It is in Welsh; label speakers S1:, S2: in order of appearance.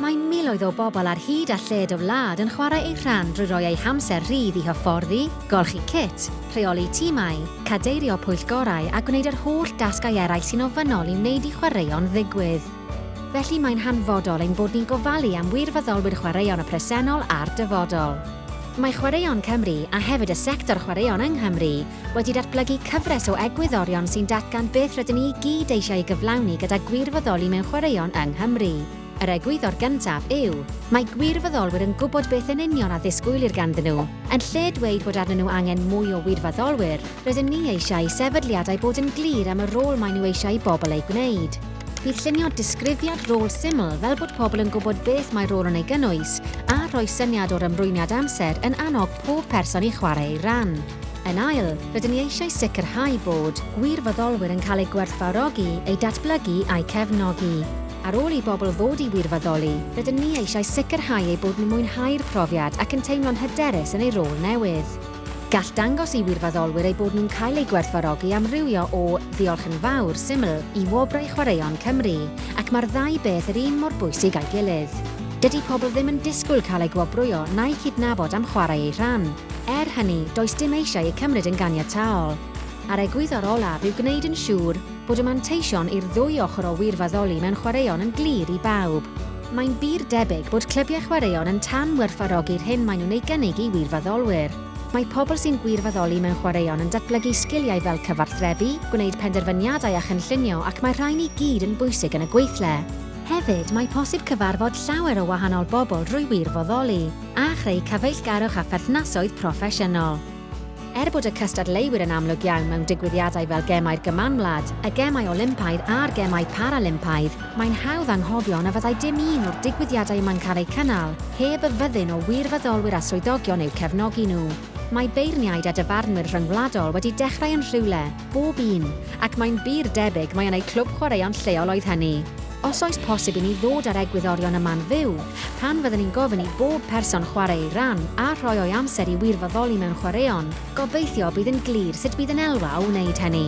S1: Mae miloedd o bobl ar hyd a lled y wlad yn chwarae eu rhan drwy roi eu hamser rhydd i hyfforddi, golchi cit, rheoli timau, cadeirio pwyllgorau a gwneud yr holl dasgau eraill sy'n ofynnol i wneud i chwaraeon ddigwydd. Felly mae'n hanfodol ein bod ni'n gofalu am wirfoddolwyr chwaraeon y presennol a'r dyfodol. Mae Chwaraeon Cymru, a hefyd y sector chwaraeon yng Nghymru, wedi datblygu cyfres o egwyddorion sy'n datgan beth rydyn ni i gyd eisiau ei gyflawni gyda gwirfoddoli mewn chwaraeon yng Nghymru. Yr egwyddor gyntaf yw, mae gwirfoddolwyr yn gwybod beth yn union a ddisgwylir ganddyn nhw. Yn lle dweud bod arnyn nhw angen mwy o wirfoddolwyr, rydym ni eisiau i sefydliadau bod yn glir am y rôl maen nhw eisiau i bobl ei gwneud. Bydd llunio disgrifiad rôl syml fel bod pobl yn gwybod beth mae rôl yn ei gynnwys a rhoi syniad o'r ymrwymiad amser yn annog pob person i chwarae ei ran. Yn ail, rydyn ni eisiau sicrhau bod gwirfoddolwyr yn cael eu gwerthfawrogi, eu datblygu a'u cefnogi. Ar ôl i bobl ddod i wirfoddoli, rydyn ni eisiau sicrhau eu bod nhw'n mwynhau'r profiad ac yn teimlo'n hyderus yn eu rôl newydd. Gall dangos i wirfoddolwyr eu bod nhw'n cael eu gwerthfawrogi amrywio o Ddiolch yn Fawr syml i Wobrau Chwaraeon Cymru, ac mae'r ddau beth yr un mor bwysig â'i gilydd. Dydy pobl ddim yn disgwyl cael eu gwobrwyo na'u cydnabod am chwarae eu rhan. Er hynny, does dim eisiau eu cymryd yn ganiataol. A'r egwyddor olaf yw gwneud yn siŵr bod y manteision i'r ddwy ochr o wirfoddoli mewn chwaraeon yn glir i bawb. Mae'n bur debyg bod clybiau chwaraeon yn tan-werthfawrogi'r hyn maen nhw'n ei gynnig i wirfoddolwyr. Mae pobl sy'n gwirfoddoli mewn chwaraeon yn datblygu sgiliau fel cyfathrebu, gwneud penderfyniadau a chynllunio ac mae'r rhain i gyd yn bwysig yn y gweithle. Hefyd, mae posib cyfarfod llawer o wahanol bobl drwy wirfoddoli, a chreu cyfeillgarwch a pherthnasoedd proffesiynol. Er bod y cystadleuwyr yn amlwg iawn mewn digwyddiadau fel Gemau'r Gymanwlad, y Gemau Olympaidd a'r Gemau Paralympaidd, mae'n hawdd anghofio na fyddai dim un o'r digwyddiadau yma'n cael eu cynnal heb y fyddin o wirfoddolwyr a swyddogion eu cefnogi nhw. Mae beirniaid a dyfarnwyr rhyngwladol wedi dechrau yn rhywle, Bob un, ac mae'n bur debyg mai yn eu clwb chwaraeon lleol oedd hynny. Os oes posib i ni ddod â'r egwyddorion yma'n fyw, pan fydden ni'n gofyn i bob person chwarae ei ran a rhoi o'i amser i wirfoddoli mewn chwaraeon, gobeithio bydd yn glir sut bydd yn elwa o wneud hynny.